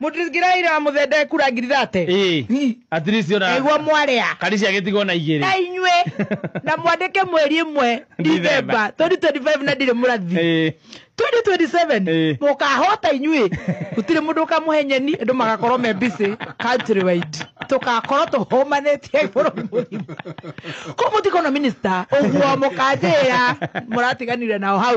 Mũtithikĩrai na mũthe ndekura ngirate. Ĩĩ. Ii. At least ona Egwo mwarĩa. Karisi agĩtigwo na igĩrĩ. Na inyuĩ na mwandĩke mweri ĩmwe Ndithemba. Ndithemba 2025 na ndirĩ mũrathi. Ĩĩ. 2027 Ĩĩ. mũkahota inyuĩ gũtirĩ mũndũ ũkamũhe nyeni andũ magakorwo me busy country wide tũgakorwo tũhũmanĩtie bũrũri mũgima kũ mũtikona minister ũguo mũkanjĩra mũratiganire nao hau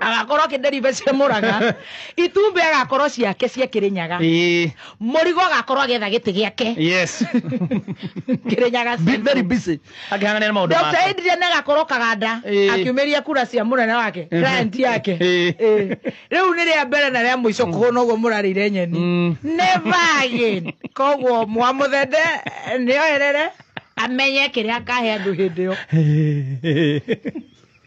agakorwo akĩnderibe cia mũraga itumbĩ agakorwo ciake cia kĩrĩnyaga Ĩĩ. mũrigo agakorwo agetha gĩtĩ gĩake Yes. kĩrĩnyaga Be very busy. Akĩhang'ania na maũndũ Dr. make. Adrian agakorwo kaganda Ĩĩ. akiumĩria kura cia mũnene wake Mhm. client yake Ĩĩ. Ĩĩ. rĩu nĩ rĩa mbere na rĩa mũico kũhũna ũguo mũrarĩire nyeni Mm. never again koguo mwamũthende nĩoerere amenye kĩrĩa akahe andũ hĩndĩ ĩyo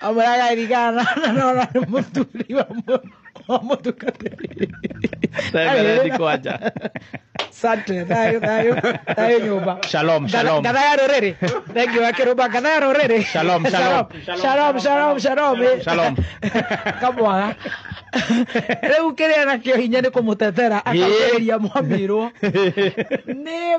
Vamos a la gairigana, no, no, no, no, vamos, vamos a tocar. Asante, thayo, thayo, thayo nyumba. Shalom, shalom. Gadha ya rorere. Thank you, akirumba gadha ya rorere. Shalom, shalom. Shalom, shalom, shalom. Shalom. Kamwaga. Rĩu kĩrĩa nakĩo hinya nĩ kũmũtetera akageria mwamirwo nĩ